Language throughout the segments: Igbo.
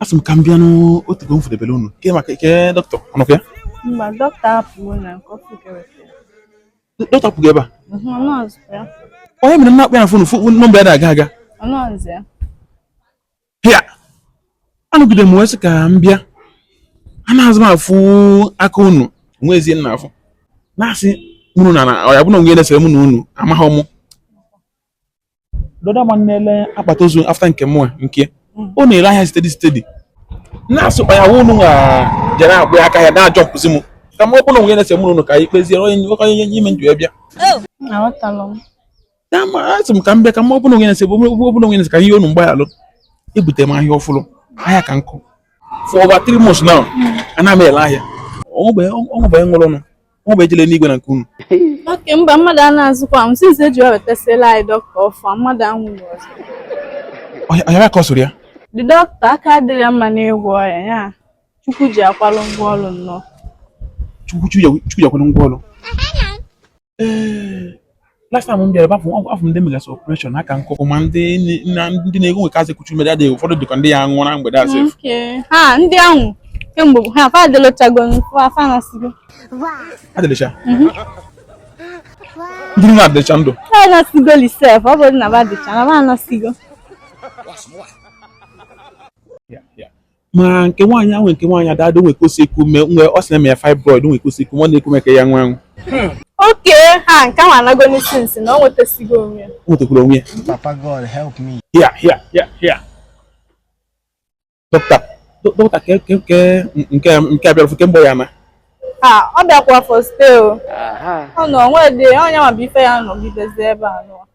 Asị m ka m bịa na o teego m fụdebere unu ke maka ke dọkịta ọ nọkwa ya Mba, dọkịta apụwo na nke ọfụ ka e wetara. dọkịta apụgo ebe a Mhm, ọ nọọzị ya. ọ ya mere m na-akpọ ya na fon fụ nọmba ya na-aga aga Ọ nọọsụ ya. hia anọgide m wee sị ka m bịa anaghịzi m afụ aka unu nwa ezie nna afụ na-asị m unu na na ọ ya bụ na o nwe na-esere mụ na unu amaghị mụ The other man na-ele akpati ozu after nke mụnwa nke ọ hmm. na-ere ahịa steady steady na-asụkpa ya wụ unu nwa jere agba aka ya na-ajumpzi m ka m ọ bụ na o nwe ihe na-esere mụ na unu ka anyị kpezie onye nwoke onye ime njọ bịa asị m ka m bịa ka m ọ bụ na o nwe ihe na-ese ọ bụ na o nwe ihe na-ese ka a yọọ unu mgbaghalụ ebute m ahịa ọfụrụ ahịa ka nkụ for over three months now hmm. ana m ele ahịa o nwebeghị nwụrụnụ O nwebeghị jele n'igwe na nke unu. Oke mba mmadụ anaazịkwa anwụ since e ji wee wetasịala anyị dọkịta ọfụ mmadụ anwụghị ọzọ. Ọnyara ka ọ soro ya? The dọkịta aka dịrị ya mma n'ịgwọ ọrịa ya Chukwu ji ya kwalụ ngwa ọrụ nnọọ. Chukwu ji akwalụ ngwa ọrụ. last time m bịara bafụ afọ ndị e megasị operation ha ka nkụkụ ma ndị ndị na-eku ume ka azụ kuchu mede adịghị ụfọdụ dị ka ndị ya-anwụ na mgbede asị ha ndị ahụ kemgbe ha fa adịlụchago fa anasịgo adịlịcha mhm. ndị na adịlịcha ndụ ha anasịgo lisef ọ bụrụ na ba adịcha na ba anasịgo ma nke nwaanyị ahụ o nwe nke nwaanyị adado o nwe ka o si eku ume nwe ọ sị na e me ya fibroid o nwe ka o si eku ume ọ na-eku ume ka ọ ya-anwụ anwụ oke ha nke ahụ anagonụ since na ọ nwetasigo onwe ya o nwetakwara onwe ya Papa God, help me. hia hia hia hia dọkịta dọ- dọkịta ke ke ke nke nke a bịara ọfụ kemgbe ya na ha ọ bịakwa for stay o ọ nọ o nwedị onye ma bụ ife ya nọgidezi ebe a nọ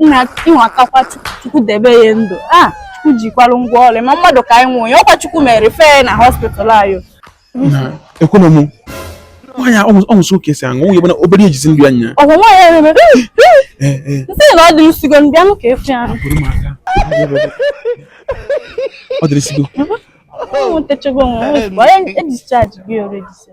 nna ịnwa kakwa chukwu debe ya ndụ a ah, chukwu jikwalụ ngwa ọrụ ma mmadụ ka anyị nwụọ ya ọ kwa chukwu mere ife na hospital anyị ekwena m nwaanyị ọ nwụsị oke si aṅụ nwunye bana obere ejizi ndụ anya ọgwa nwaanyị erebe eh, eh. nsị na ọ dị nsigo mbịa m ka efe ahụ ọ dịrị sigo onwe e ji discharge ya orejise